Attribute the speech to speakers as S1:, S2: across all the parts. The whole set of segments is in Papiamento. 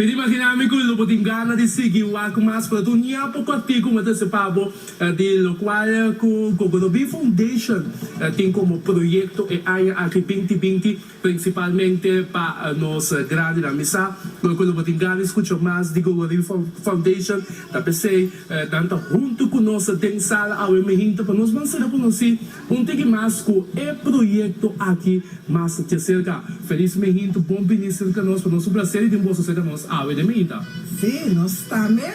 S1: Pidi imagina mi cu lo bo tin gana di sigui wak cu mas pero tur ña poco aki cu mi ta hasi pa bo di locual cu Gogodobi Foundation tin como proyecto e aña aki binti binti Principalmente pa nos grandi nan misa, lo cu lo bo tin gana di scucha mas di Go Waribi Foundation, ta pesey nan ta hunto cu nos den sala awe mihinta pa nos mansera conoci un tigi mas cu e proyecto aki mas di cerca. Feliz mihinta, bon bini cerca nos, pa nos un placer di tin boso cerca nos awe den mihinta. Sí, nos ta me.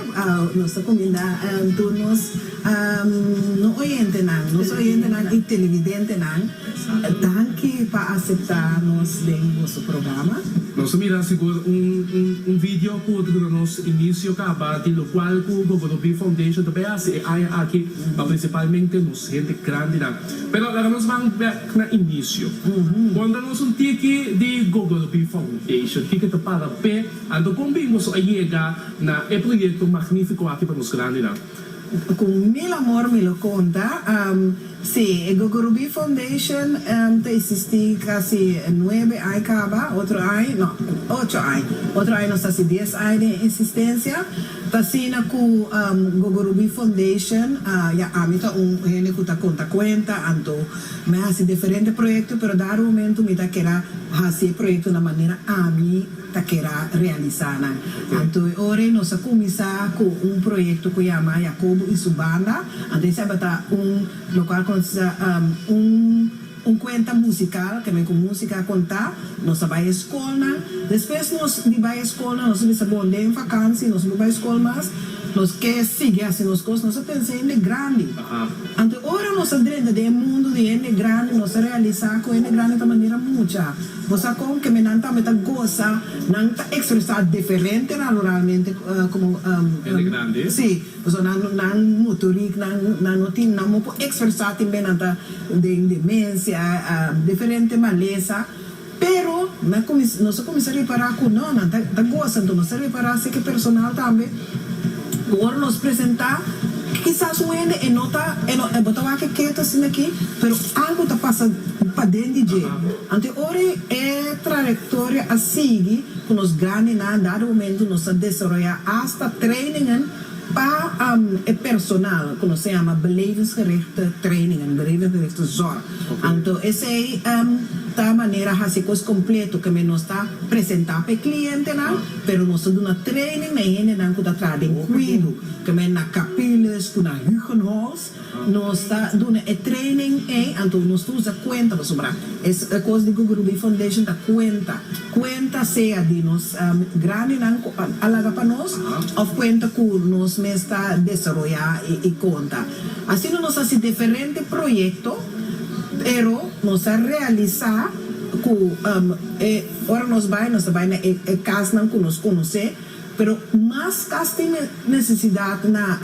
S1: Nos ta cuminda tur nos no oyentenan, nos oyentenan y televidentenan. Danki pa aseptá nos den boso programa. Nos a mira sigur un video cu ta duna nos inicio caba di locual cu Gogoro Bee Foundation ta bay haci e aña aki, ma principalmente nos hende grandinan. Pero laga nos ban bek na inicio. Conta nos un tiki di Gogoro Bee Foundation, kiko ta para pe, anto con bimbo su a yega na e proyecto magnifico aki pa nos grandinan? Cu mil amor mi lo conta. Sí, e Gogorubí Foundation ta existi casi nuebe ai caba, otro ai, no, ocho ai, otro ai nos ta haci dies ai den existencia. Ta asina cu Gogorubí Foundation, ya, ami ta un hende cu ta conta cuenta, anto mi a haci diferente proyecto, pero dado momento mi ta keda haci e proyecto na manera ami. ta kera realisá nan. Anto e ora ei nos a kuminsá ku un proyekto ku yama Yakobo i su banda. Anto esei a bata un lokual ku nos ta bisa un kuenta musikal, ke men ku músika a kontá. Nos a bai e skolnan. Despues nos di bai e skolnan nos a bisa bon den vakansi nos no bai skol mas, nos ke sigui hasi nos kos, nos a pensa hende grandi. Anto e ora nos a drenta den e mundu di hende grandi nos a realisá ku hende grandi ta manera mucha. Bo sa kon keme nan tambe ta gosa? Nan ta ekspresá diferente raloralmente komo hende grandi. Sí, pasobra nan no nan motorik, nan nan no tin nan mo por ekspresá tin be nan ta den demensia, diferente malesa. Pero na kuminsá nos a kuminsá repará ku no nan ta ta gosa enton nos a repará seke personal tambe ku ora nos presentá kisas un hende e no ta e no bo ta wak e ketu asin'aki pero algu ta pasa paden di dje. Anto ora e trayectoria a sigui cu nos grandi na dado momento nos a desaroya hasta trainingen pa e personal cu nos a yama belevingsgerichte trainingen, belevingsgerichte zorg. Anto esey ta manera haci cos completo kende nos ta presenta pa e clientenan pero nos ta duna training na e hendenan cu ta traha den cuido kende na Capiles cu na Hugenholtz. Nos ta duna e training ei, anto nos ta usa cuenta pasobra es cos di Gugurubí Foundation ta cuenta, cuenta sea di nos grandinan cu a laga pa nos of cuenta cu nos mes ta desaroya y conta. Asina nos haci diferente proyecto pero nos a realisa cu ora nos bay nos ta bay na e casnan cu nos conoce. Pero mas kas tin nesesidat na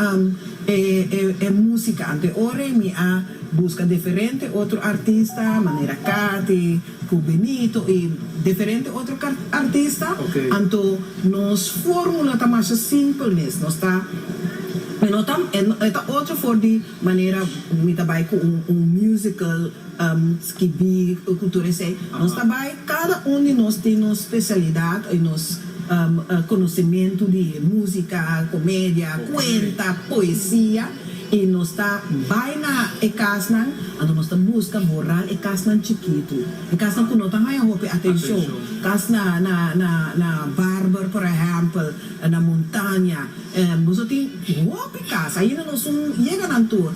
S1: e e musika ante ora y mi a buska deferente otro artista manera Cathy cu Benito y deferente otro artista anto nos formula ta masha simpel mes nos ta e no ta e ta otro for di manera mi ta bay cu un musical. Skibí e kultura esei. Nos ta bai, kada un di nos tin nos spesialidat i nos konosementu di músika, komedia, kuenta, poesia i nos ta bai na e kasnan anto nos ta buska borá e kasnan chikitu, e kasnan ku no ta haña hopi atenshon, kas na na na na barber por ehèmpel, na montaña. Nos lo tin hopi cas ainda nos un yega nan tur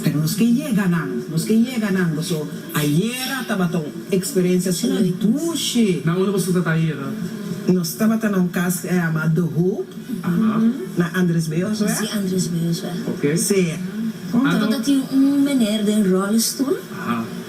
S1: pero nos ke yega nan nos ke yega nan boso ayera tabata un experiencia su dushi. Na unda boso tabata ayera? Nos tabata na un cas ke a yama the hope na Andres Beosweg. Si Andres Beosweg si anto ta tin un meneer den rollestoel.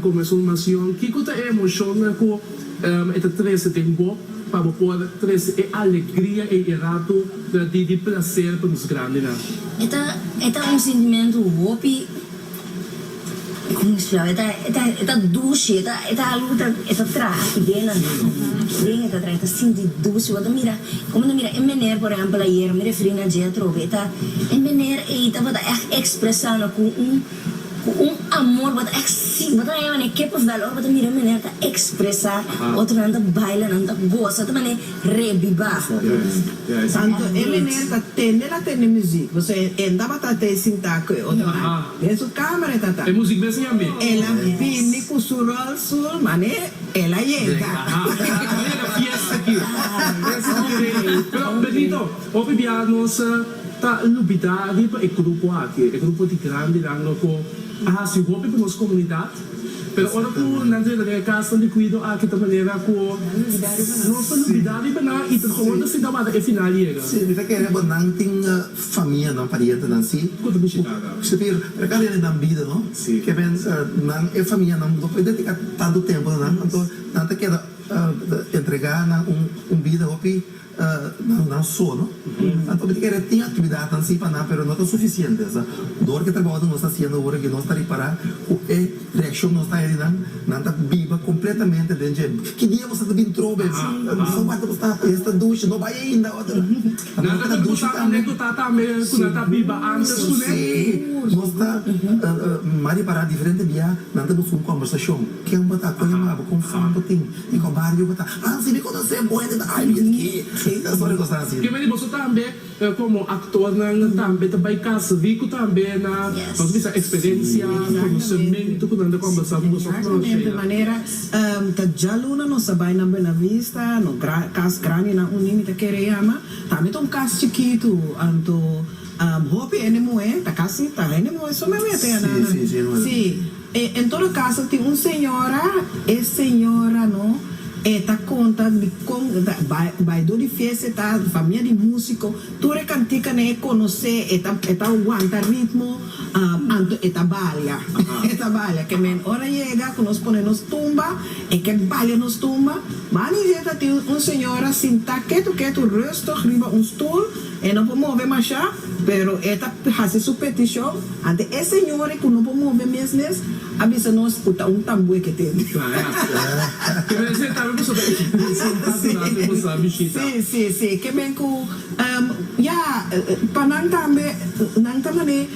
S1: Con mesun nacion, kico ta e emocionnan cu e ta trece den bo pa bo por trece e alegria ei e rato di di placer pa nos grandenan? E ta e ta un sentimento hopi, como e splikaba, e ta e ta e ta dushi, e ta e ta algo cu ta e ta traha aki den nan, den e ta traha, e ta sinti dushi, bo ta mira, como bo ta mira e mener, por ehempel, ayer mi referi na Jethro, e ta e mener ei tabata echt expresa nan cu un. Cu un amor bo ta exi, bo ta nae mane ke por valor bo ta mira mane nan ta expresa, otro nan ta baila, nan ta gosa ta mane rebiba. Santo e meneer ta tende la tende muziek, bo sa e en tabata te sinta cu e otro man den su camera e ta ta. E muziek bes nia mi. El a bini cu su Rolls Royce mane el a yega. Ahora yega fiesta aki. Oke, pero Benito, hopi biaha nos. Ta lubidadi pa e grupo aki, e grupo di grandenan loco a haci hopi pa nos comunidad, pero ora cu nan ta yega den e casnan di cuido aki ta manera cu nos ta lubidadi pa nan y trabajador ta sinta wada e final yega. Sí, mi ta kere bo nan tin famianan, parientenan, sí? Cu ta bishita nan? Sí, pero e ta rindi nan bida, no? Sí. Ke mester nan, e famianan, no por dedica tanto tempo na nan, anto nan ta keda entrega nan un bida hopi. nan sono anto mi ta kere tin actividadnan si pa nan pero no ta suficiente so door ki trabounan nos ta haciendo ora ki nos ta ripara cu e reaccion nos ta haña nan nan ta biba completamente den dje ki dia boso ta bin trobe boso wak ta bostad e esta dushi no bay ainda nan ta kende bostad nan den ta tambe cu nan ta biba antes cu ne nos ta mar ripara diferente bia nan ta busca un conversacion ken bo ta con e mabo con fan bo tin. Mi ko bario bo ta. Nan sibi koto se boende ta ay mi ski e ta sore kosa asin. Kebe di boso tambe komo aktornan tambe ta bai kas riku tambe na nos bisa eksperensia, konosementu ku nan ta kòmbersá ku boso aktor Sheyla? Manera ta djaluna nos ta bai na Buenavista no kas grandi nan uní mi ta kere yama tambe ta un kas chikitu anto hopi hende muhé ta kasi ta hende muhé so mehue te anana si. En todo caso tin un señora, e señora no e ta conta di con bay door di fiesta e ta famia di musico, tur e canticanan e conoce, e ta e ta wanta ritmo anto e ta balia, e ta balia, ke men ora yega cu nos pone nos tumba e ke balia nos tumba, Mani Zeta tin un señora sinta ketu ketu rustig riba un stoel, E no por move mashá, pero e ta hasi su petishon, anto e señori ku no por move mes mes a bisa nos ku ta un tamboe ke tende. Klarasu. Ke mester ta tawe ku su ta presentá su nan si bo sa bishita. Sí, sí, sí, ke men ku ya pa nan tambe nan ta man'é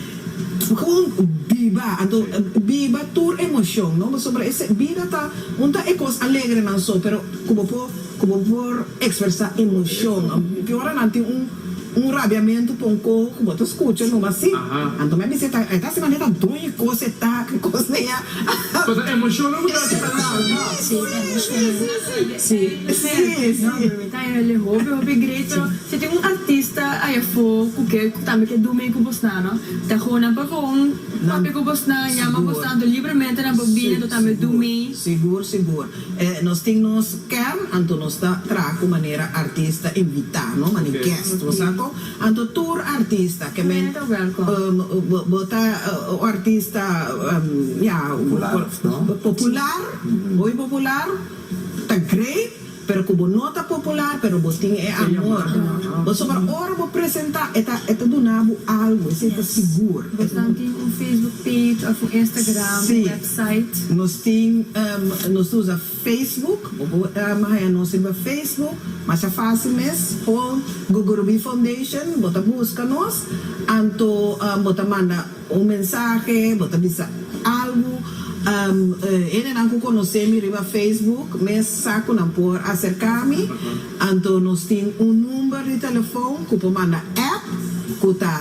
S1: jun biba, anto biba tur emoshon, no, pasobra e se bida ta un ta e kos alegrenan so, pero ku bo por. Ku bo por ekspresá emoshon. Tin ora nan tin un un rabiamentu pa un koho ku bo ta skucha numa así. Anto mi a bisa e ta e ta asina, mi ta doño kos e ta, ki kos na i a. Pasobra emoshonnan ku ta hasi nan alma. Sí, emoshonnan. Sí, sí, sí. Mi ta hele hopi hopi grecho. Si tin un artista ai afó ku ke tambe ke durmi ku bosnan, no? Ta goon nan pa goon papia ku bosnan, yama bosnan, anto libremente nan por bini anto tambe durmi. Sigur, sigur. Nos tin nos ker, anto nos ta traha ku manera artista invitá, no? Mane guest, bo sa ko? Anto tur artista ke men bo ta un artista, ya, popular, muy popular, ta great, pero ku bo no ta popular pero bo tin e amor, pasobra ora bo presentá e ta e ta duna bo algu, esei ta sigur. Bosnan tin un Facebook page òf un Instagram, un website? site. Nos tin nos ta usa Facebook bo por haña nos riba Facebook masha fácil mes pon Gugurubí Foundation bo ta buska nos anto bo ta manda un mensahe bo ta bisa algu hendenan ku konosé mi riba Facebook mes sa ku nan por aserká mi anto nos tin un number di telefon ku por manda app ku ta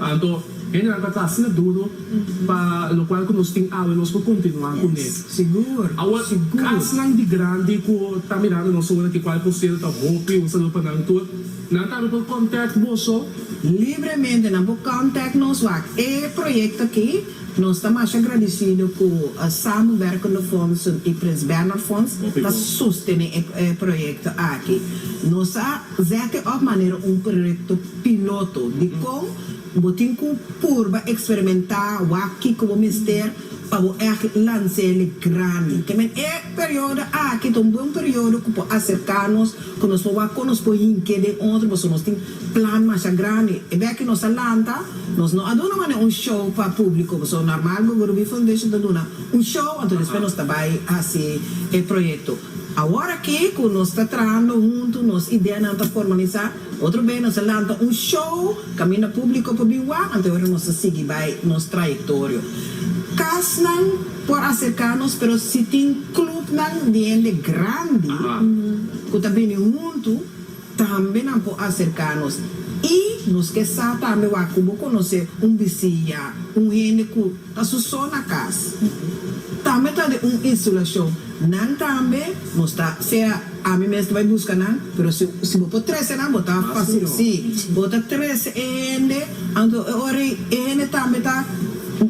S1: Anto, hende ta ta asina duru pa lokual ku nos tin awe nos por kontinuá kuné. Awa, kasnan di grandi ku ta mirando nos awonan, ke kual por sedu ta hopi. Un saludo pa nan tur. Nan tambe por kòntèkt boso. Libremente nan por kòntèkt nos wak e proyekto aki. Nos ta masha agradisido ku Samenwerkende Fondsen i Prins Bernhardfonds ta sostené e proyekto aki. Nos a. Zèkte òf manera un proyekto piloto di kon bo tin ku purba eksperimentá wak kiko bo mester pa bo ègt lans'é le grandi. Te men e periodo aki ta un bon periodo ku por aserká nos ku nos por wak kon nos por hink'é den otro pasobra nos tin plan masha grandi. E bèk ku nos a lanta nos no a duna manera un show pa públiko pasobra normal Gogorubí Foundation ta duna un show anto despues nos ta bai hasi e proyekto. Awor aki cu nos ta trahando hunto, nos ideanan ta formaliza, otro bey nos a lanta un show caminda publico pa bin wak, anto awor nos ta sigui bay nos trayectorio. Casnan por acerca nos, pero si tin clubnan di hende grandi cu ta bini hunto, Tambe nan por acerca nos y nos ke sa tambe wak cu bo conoce un bisiña, un hende cu ta su so na cas. Tambe ta den un insulacion. Nan tambe nos ta sea ami mes ta bay busca nan, pero si si bo por trece nan bo ta facil si bo ta trece e hende aunke e ora ey e hende tambe ta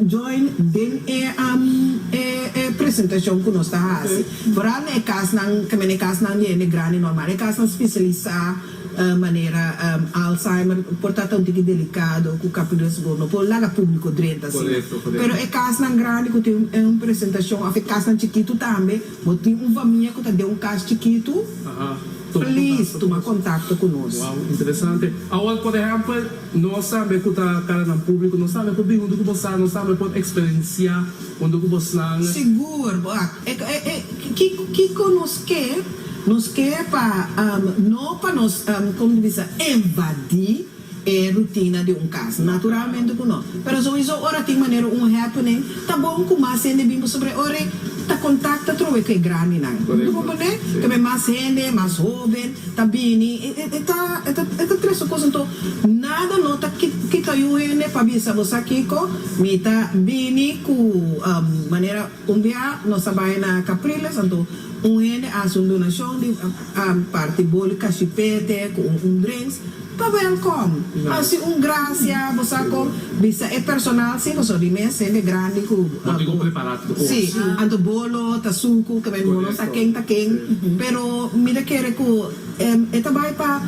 S1: join den e e presentacion cu nos ta haci. Vooral na e kasnan, tambe na e kasnan di hende grandi normal, e kasnan spesialisá manera Alzheimer por ta ta un tiki delikado ku kapin resgo, no por laga públiko drenta asina. Pero e kasnan grandi ku tin un presentashon òf e kasnan chikitu tambe, bo tin un famia ku ta den un kas chikitu, please tuma kontakto ku nos. Wou, interesante. Awor, por ehèmpel, nos tambe ku ta kara nan públiko, nos tambe por bin huntu ku bo sa, nos tambe por eksperensiá huntu ku bosnan. Sigur. Kiko nos ke? Nos ke pa no pa nos como ta bisa invadi e rutina di un kas. Naturalmente ku no. Pero souiso ora tin manera un happening ta bon ku mas hende bin pasobra e ora ei ta kontakta trowe ku e grandinan. Mi por pone tambe mas hende, mas hoben ta bini e ta e ta tres su kos anto nada no ta kita yu hende pa bisa bo sa kiko mi ta bini ku manera. Un bia nos a bai na Capriles, anto un hende a hasi un donacion di parti boli cashipete cu un un drinks, ta welcom. Hasi un gracia, bo sa con, bisa e personal si, pasobra di mes hende grandi cu bo tin cu prepara cos. Si, anto bolo ta sucu, ke men bolo sa ken ta ken, pero mi ta kere cu e ta bai pa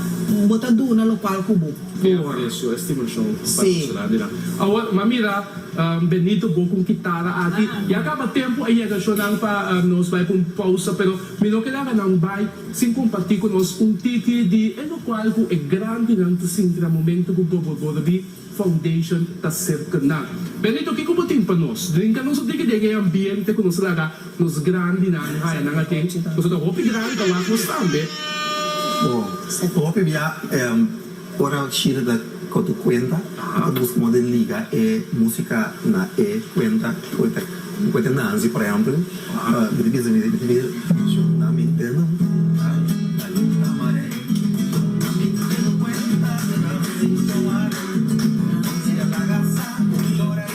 S1: bo ta duna locual cu bo. Por eso e stimulacion pa nos ciudad di nan. Awor, m'a mira. Benito bo cu un kitara aki. Ya caba tempo a yega shonan pa nos bay pa un pausa pero mi no ke laga nan bay sin comparti cu nos un tiki di e locual cu e grandinan ta sinti na momento cu Bobo Borobí Foundation ta serca nan. Benito kico bo tin pa nos drinka nos un tiki den e ambiente cu nos a laga nos grandinan haya nan aten nos a ta hopi grandi ta wak nos tambe. Bo hopi bia. Ora Shirley ta kotu kuenta, bo ta buska modo di liga e musika na e kuenta ku e ta kuenta. Nancy, por ehempel, mi ta bisa, mi ta bisa menciona mi denan.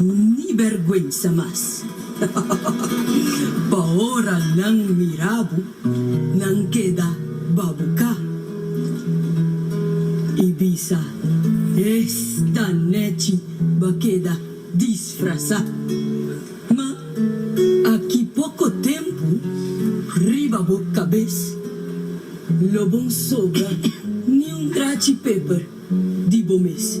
S1: Ni berguensa mas. Pa ora nan mira bo nan keda babuca y bisa esta nechi ba keda disfrasa. Ma aki poco tempo riba bo cabez lo bon sobra ni un trachi peper di bo mes.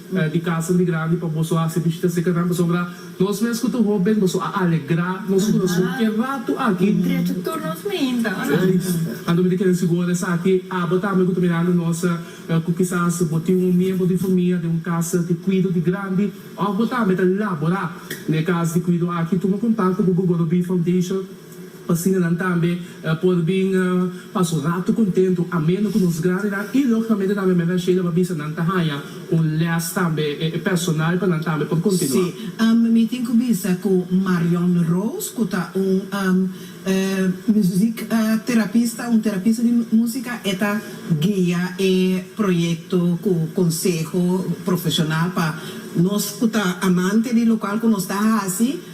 S1: di casa di grandi pa boso a hasi bishita seka nan pasobra nos mes cu tur hoben boso a alegra nos corazon ki e rato aki. Drecho tur nos meinta a nan. Anto mi ta kere sigur esaki abo tambe cu ta mirando nos cu kisas bo tin un miembro di famia den un casa di cuido di grandi of bo tambe ta labora n'e cas di cuido aki tuma contact cu Bogobonobie Foundation. Asina nan tambe por bin pa su ratu kontentu, ameno ku nos grandenan i logikammente tambe Mehmet Sheila por bisa nan ta haña un lès tambe personal pa nan tambe por kontinuá. Sí, mi tin ku bisa ku Marion Roos, ku ta un muziekterapista, un terapista di músika, e ta guia e proyekto ku konseho profeshonal pa nos ku ta amante di lokal ku nos ta hasi.